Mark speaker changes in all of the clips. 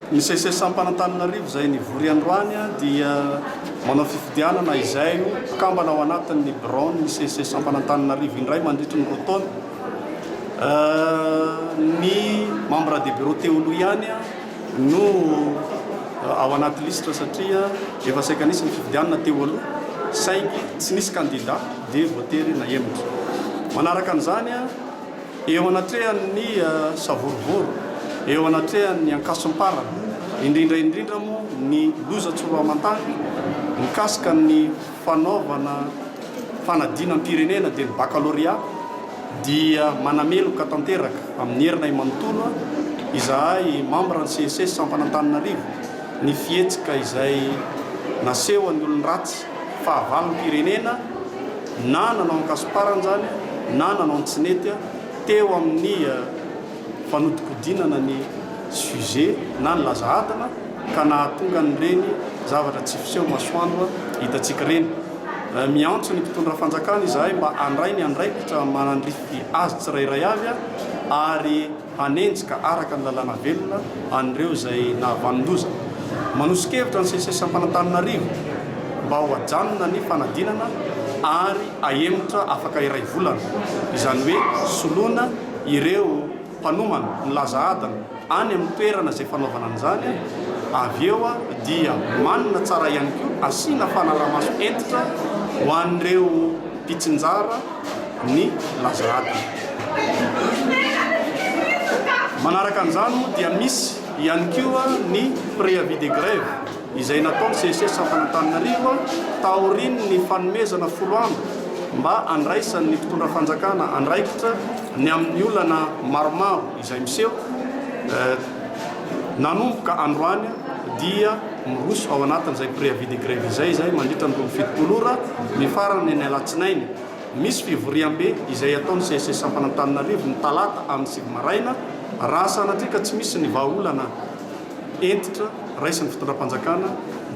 Speaker 1: Ny Seces Ampanantananarivo izay nivory androany dia manao fifidianana izay ho mpikambana ao anatin' ny biraon' ny Seces Ampanantananarivo indray mandritry ny roa taona. Ny Membres des Bureaux teo aloha ihany no ao anaty lisitra satria efa saika nisy ny fifidianana teo aloha saingy tsy nisy kandida dia voatery nahemotra. Manaraka an'izany, Eo anatrehan' ny savorovoro, eo anatrehan' ny ankasom-parana, indrindra indrindra moa ny loza tsoloaman-tany mikasika ny fanaovana fanadinam-pirenena dia ny bakalorea, dia manameloka tanteraka amin' ny herinay manontolo izahay mambra ny CESES Sampana Antananarivo ny fihetsika izay nasehon' ny olon-dratsy. fahavalom-pirenena na nanao an-kasomparana izany na nanao ny tsy nety teo amin'ny fanodinkodinana ny sujet na ny laza adina ka nahatonga an'ireny zavatra tsy fiseho masoandro hitantsika ireny. Miantso ny mpitondra fanjakana izahay mba handray ny andraikitra manandrify azy tsirairay avy ary hanenjika araka ny lalàna velona an'ireo izay nahavanon-doza. Manoso-kevitra ny CCSAmpanantananarivo mba ho ajanona ny fanadinana ary ahemotra afaka iray volana, izany hoe soloina ireo mpanomana milaza adina any amin'ny toerana izay fanaovana an'izany, avy eo dia manina tsara ihany koa asiana fanarahamaso hentitra ho an'ireo mpitsinjara. ny laza ratsy. Manaraka an'izany moa dia misy ihany koa ny préavis de grève izay nataon'ny CSS Ampanantananarivo taorian'ny fanomezana folo andro mba handraisan'ny mpitondra fanjakana andraikitra ny amin'ny olana maromaro Izay miseho nanomboka androany dia miroso ao anatin'izay préavis de grève izay izay mandritra ny roa amby fitopolo ora mifarana ny alatsinainy. Misy fivoriambe izay ataon'ny CSS Sampan'Antananarivo ny talata amin'ny sivy maraina raha sanatria ka tsy misy ny vahaolana. hentitra raisin'ny fitondram-panjakana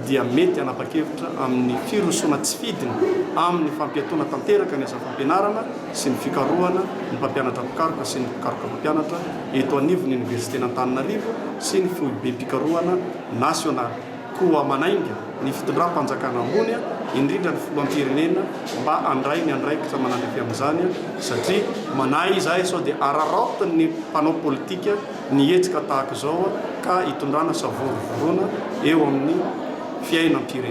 Speaker 1: dia mety hanapa-kevitra amin'ny firosoana tsy fidiny amin'ny fampiatoana tanteraka ny asa fampianarana sy ny fikarohana ny mpampianatra mpikaroka sy ny mpikaroka mpampianatra eto anivon'ny Oniversiten'Antananarivo sy ny Foibem-pikarohana Nasionaly. Koa manainga ny fitondram-panjakana ambony, indrindra ny Filoham-pirenena mba handray ny andraikitra manandrify amin'izany satria manahy izahay sao dia araraotin'ny mpanao politika, ny hetsika tahaka izao ka hitondrana savorovovona eo amin'ny fiainam-pirenena.